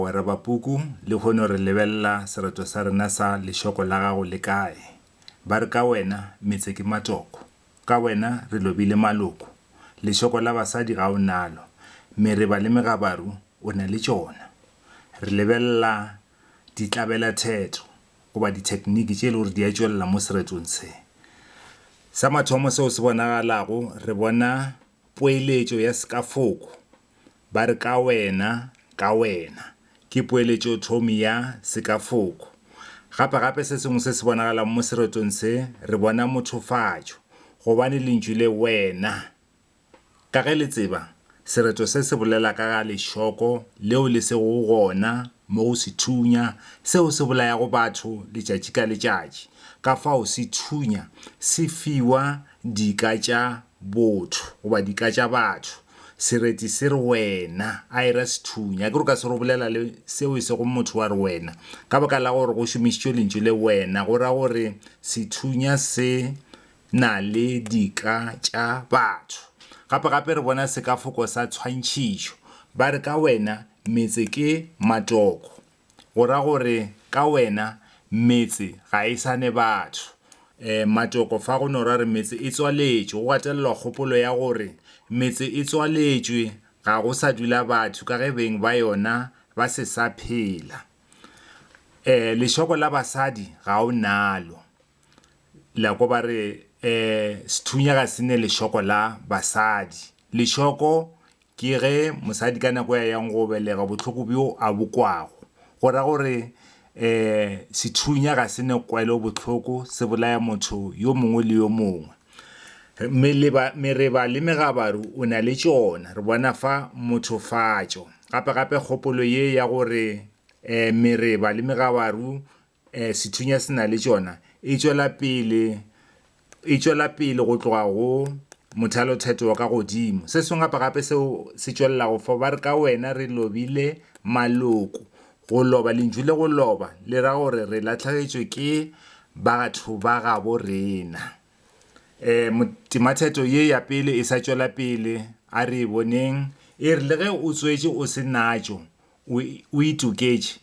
Mogwera Bapuku, lehono re lebelela sereto sa rena sa lešoko la gago le kae? Ba re ka wena metse ke matoko, ka wena re lobile maloko, lešoko la basadi ga o nalo, mereba le megabaru o na le tšona. Re lebelela ditlabela-theto goba dithekniki tše e le gore di a tšwelela mo seretong se. Sa mathomo seo se bonagalago re bona. Poeletšo ya sekafoko ba re ka wena, ka wena, ke poeletšothomi ya sekafoko. Gapegape se sengwe se se bonagalang mo seretong se, re bona mothofatšo, gobane lentšu le wena, ka ge le tseba, sereto se se bolela ka ga lešoko leo le sego gona mo go sethunya seo se bolayago batho letšatši ka letšatši, kafao sethunya se fiwa dika tša botho goba dika tša batho, sereti se re wena, a e ra sethunya, akere o ka se re o bolela le seo e sego motho wa re wena, ka baka la gore go šomišitšwe lentšu le wena, go ra gore sethunya se na le dika tša batho. Gape gape re bona sekafoko sa tshwantšhitšo, ba re ka wena metse ke matoko. Go ra gore ka wena metse ga e sa ne batho. Um Matoko fa go no ra re metse e tswaletšwe, go gatelelwa kgopolo ya gore metse e tswaletšwe, ga go sa dula batho ka ge beng ba yona ba se sa phela. Um Lešoko la basadi ga o nalo. Lako ba re, Ee, sethunya ga se ne lešoko la basadi. Lešoko ke ge mosadi ka nako ya yang go belega bohloko bjo a bo kwago. Go ra gore ee, sethunya ga se ne kwelo bohloko se bolaya motho yo mongwe le yo mongwe. Meleba, mereba le megabaru o na le tšona, re bona fa mothofatšo. Gape-gape kgopolo ye ya gore ee, mereba le megabaru Sethunya se na le tšona e tšwela pele e tšwela pele go tloga go mothalothetho wa ka godimo. Se sengwe gape gape seo se tšwelelago fo ba re ka wena re lobile maloko. Go loba lentšu le go loba le ra gore re latlhegetšwe ke batho ba gabo rena. Temathetho ye ya pele e sa tšwela pele a re e boneng e re le ge o tswetše o se natšo o itoketše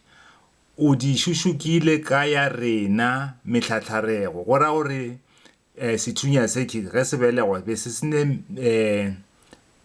O di šušukile ka ya rena mehlahlarego, go ra gore sethunya se ke ge se belegwa be se sene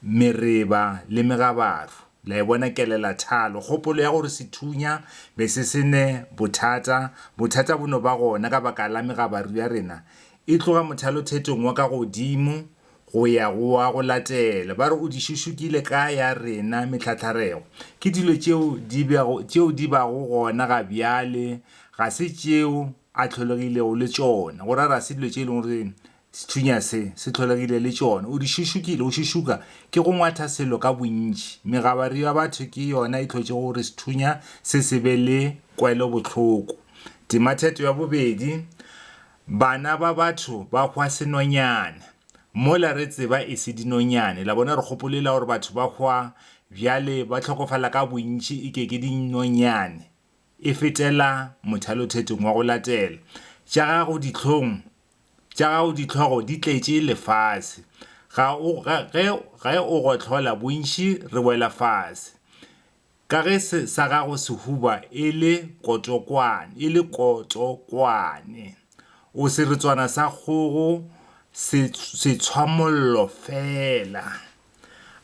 mereba le megabaru. La e bona kelelathalo, kgopolo ya gore sethunya be se sene bothata. Bothata bo no ba gona ka baka la megabaru ya rena e tloga mothalothetong wa ka godimo. go ya go wa go latela, ba re o di šušukile ka ya rena metlhatharego. Ke dilo tšeo di bego, tšeo di bago gona ga bjale, ga se tšeo A tlholegilego le tšona, go ra ga se dilo tše e lego gore sethunya se, se tlholegile le tšona. O di šušukile, go šušuka ke go ngwatha selo ka bontši. Megabaru ya batho ke yona e hlotšego gore sethunya se se be le kwelobohloko. Tima theto ya bobedi. Bana ba batho ba hwa senonyane. Mola re tseba e se dinonyane. La bona, re gopolela gore batho ba hwa bjale ba hlokofala ka bontši e ke ke dinonyane. E fetela mothalothetong wa go latela. Tša gago dihlong, tša gago dihlogo di tletše lefase. Ga o, ge, ge, ge o gohlola, bontši re wela fase. Ka ge se, sa gago sehuba e le kotokwane, e le kotokwane, o seretswana sa kgogo, se, setshwamollo feela.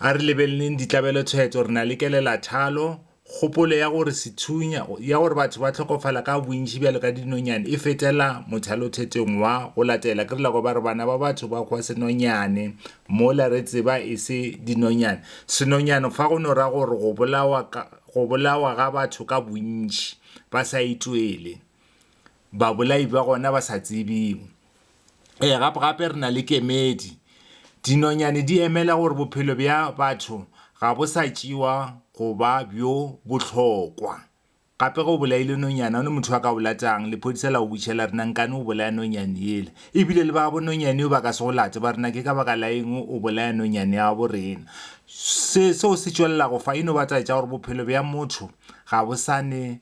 A re lebeleleng ditlabelo-theto. Re na le kelelathalo, kgopolo ya gore sethunya, ya gore batho ba hlokofala ka bontši bjalo ka dinonyane e fetela mothalothetong wa go latela. Ke re la kwa ba re, Bana ba batho ba hwa senonyane, Mola re tseba e se dinonyane. Senonyane fa go no ra gore go bolawa ka, go bolawa ga batho ka bontši ba sa itwele, babolai ba gona ba sa tsebiwe. Ee, gape, gape re na le kemedi. Dinonyane di emela gore bophelo bja batho ga bo sa tšewa go ba bjo bohlokwa Gape ge o bolaile nonyana, o ne motho a ka o latang. Lephodisa la go butša la re, Nankane o bolaya nonyane yela. E bile le babo nonyane yo ba ka se go late, ba re, Na ke ka baka la eng o bolaya nonyane ya gabo rena? Se seo se tšwelelago fa e no ba taba tša gore bophelo bja motho ga bo sa ne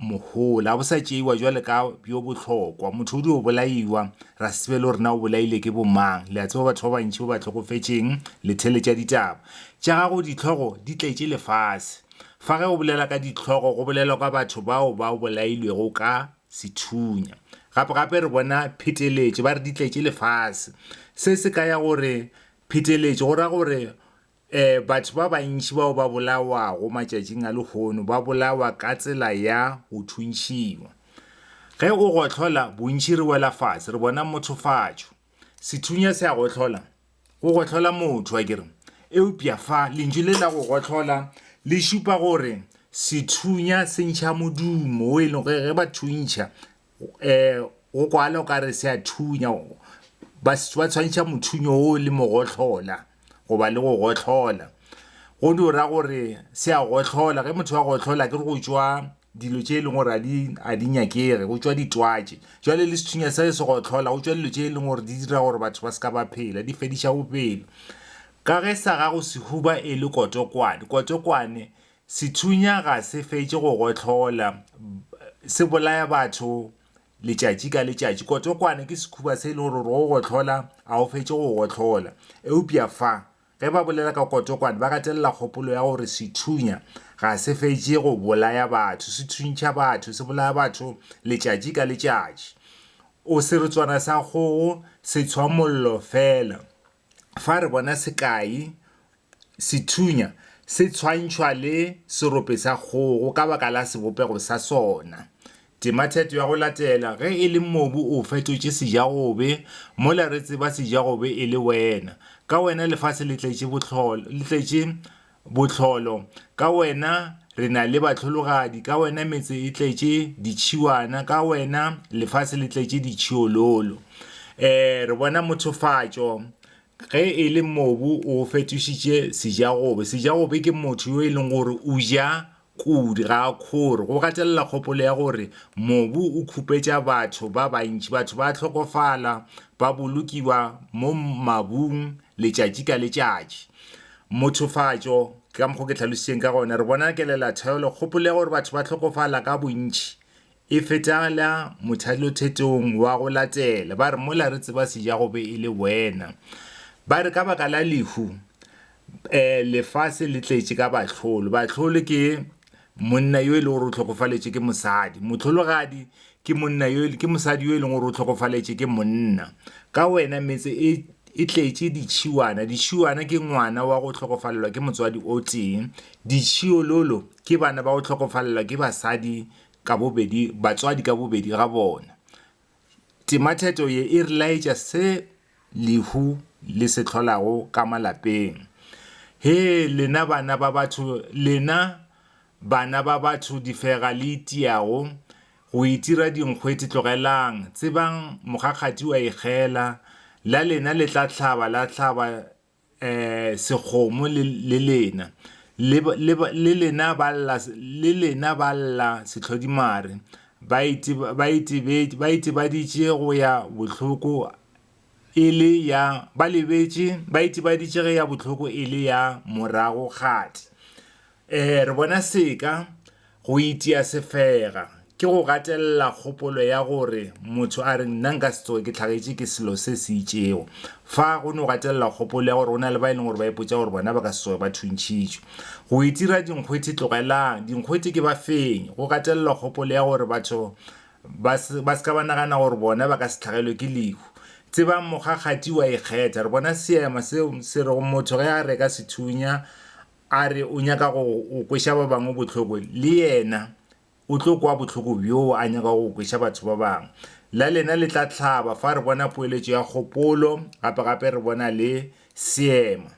mohola, ga bo sa tšeiwa bjalo ka bjo bohlokwa. Motho o dio bolaiwa, ra se tsebe le gore na o bolaile ke bomang. Le a tseba batho ba bantši ba ba hlokofetšeng, le theletša ditaba tša gago, dihlogo di tletše lefase. Fa ge o bolela ka dihlogo go bolelwa ka batho bao ba bolailwego ka sethunya. Gape-gape re bona pheteletšo, ba re di tletše lefase. Se se ka ya gore pheteletšo go ra gore e, batho ba bantši bao ba bolawago matšatšing a lehono ba bolawa ka tsela ya go thuntšhiwa. Ge o gohlola, bontši re wela fase, re bona mothofatšo. Sethunya se a gohlola, go gohlola motho a kere eupša fa lentšu le la go gohlola le šupa gore sethunya se ntšha modumo o e leng ge ba thuntšha um go kwala o ka re se a thunya ba tshwantšha mothunyo o le mogohlola goba le go gohlola go di o ra gore se a gohlola ge motho wa gohlola ke re go tšwa dilo tše e leng gore a di nyakege go tšwa ditwatše jwale le sethunya se se go tlhola go tšwa dilo tše e leng gore di dira gore batho ba se ka ba phela di fediša bophelo ka ge sa gago sehuba e le kotokwane kotokwane sethunya ga se fetše go gotlhola se bolaya batho letšatši ka letšatši kotokwane ke sekhuba se e le gore gore go gotlhola a o fetše go gotlhola eupša fa Ge ba bolela ka kotokwane, ba gatelela kgopolo ya gore sethunya ga se fetše go bolaya batho, se thuntšha batho, se bolaya batho letšatši ka letšatši. O Seretswana sa kgogo se tshwa mollo feela. Fa re bona sekai, sethunya se tshwantšhwa le serope sa kgogo ka baka la sebopego sa sona. Tema theto ya go latela ge e le mobu o fetotše sejagobe mola re tseba sejagobe e le wena. Ka wena lefase le tletše bohlolo, le tletše bohlolo. Ka wena re na le bahlologadi, ka wena metse e tletše ditšhiwana, ka wena lefase le tletše ditšhiololo. E, re bona mothofatšo ge e le mobu o fetošitše sejagobe. Sejagobe ke motho yo e leng gore o ja Kudu ga a kgore go gatelela kgopolo ya gore mobu o khupetša batho ba bantši. Batho ba a hlokofala, ba bolokiwa mo mabung letšatši ka letšatši. Mothofatšo, ke ka mokgwa o ke hlalositšeng ka gona, re bona kelelatheo le kgopolo ya gore batho ba hlokofala ka bontši E fetela mothalothetong wa go latela, ba re, Mola re tseba se ja go be e le wena. Ba re, Ka baka la lehu, lefase le tletše ka bahlolo. Bahlolo ke monna yo e lego gore o hlokofaletšwe ke mosadi. Mohlologadi ke monna yo, ke mosadi yo e leng gore o hlokofaletšwe ke monna. Ka wena metse e e tletše ditšhiwana. Ditšhiwana ke ngwana wa go hlokofalelwa ke motswadi o tee. Ditšhiololo ke bana ba go hlokofalelwa ke basadi ka bobedi, batswadi ka bobedi ga bona. Tematheto ye e re laetša se lehu le se hlolago ka malapeng. Hee lena bana ba batho, lena bana ba batho difega le itiago go itira dinkgwete tlogelang, tsebang mokgakgati o a ikgela, la lena le tla hlaba la hlaba sekgomo le, le lena, le, le, le lena ba lla, le lena ba lla sehlodimare, ba ite, ba itebetše, ba itebaditše go ya bohloko e le ya, ba lebetše, ba itebaditše ge ya bohloko e le ya moragokgati. Ee, re bona seka go itia sefega ke go gatelela kgopolo ya gore motho a re nna nka se tsoge ke tlhagetše ke selo se se itšego. Fa go no gatelela kgopolo ya gore go na le ba e leng gore ba ipotša gore bona ba ka se tsoge ba thuntšhitšwe. Go itira dinkgwethi Tlogelang dinkgwethi ke ba fenye. Go gatelelwa kgopolo ya gore batho ba se ba se ka ba nagana gore bona ba ka se tlhagelwe ke lehu. Tsebang mokgakgati o a ikgetha. Re bona seema seo se rego motho ge a reka sethunya, a re o nyaka go kweša ba bangwe bohloko, le yena o tlo kwa bohloko bjoo a nyakago go kweša batho ba bangwe. La lena le tla hlaba fa re bona poeletšo ya kgopolo, gape-gape re bona le seema.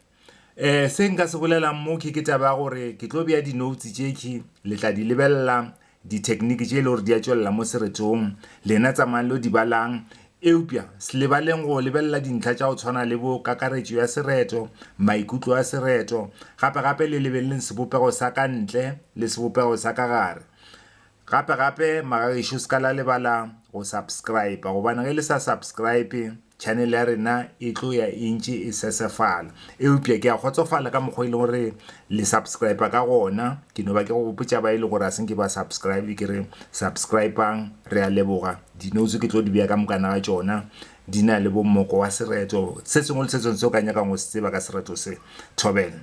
Um Se nka se bolelago mo ke ke taba ya gore ke tlo bea di-notes tšekhwi, le tla di lebelela Dithekniki tše e le gore di a tšwelela mo seretong, lena tsamayang lo di balang. Eupša se lebaleng go lebelela dintlha tša go tshwana le bo kakaretšo ya sereto, maikutlo a sereto. Gape-gape le lebeleleng sebopego sa ka ntle le sebopego sa ka gare. Gape-gape, magagešu se ka la lebala go subscriber, gobane ge le sa subscribe, channel ya rena e tlo ya e ntše e sesefala eupša ke a kgotsofala ka mokgwa e leng gore le subscribe ka gona ke no ba ke go bopotša ba e le gore a senke ba subscribe ke re subscribang re a leboga dinotse ke tlo di beya ka mokana ga tšona di na le bommoko wa sereto se sengwe le se sengwe se o ka nyakang go se tseba ka sereto se thobela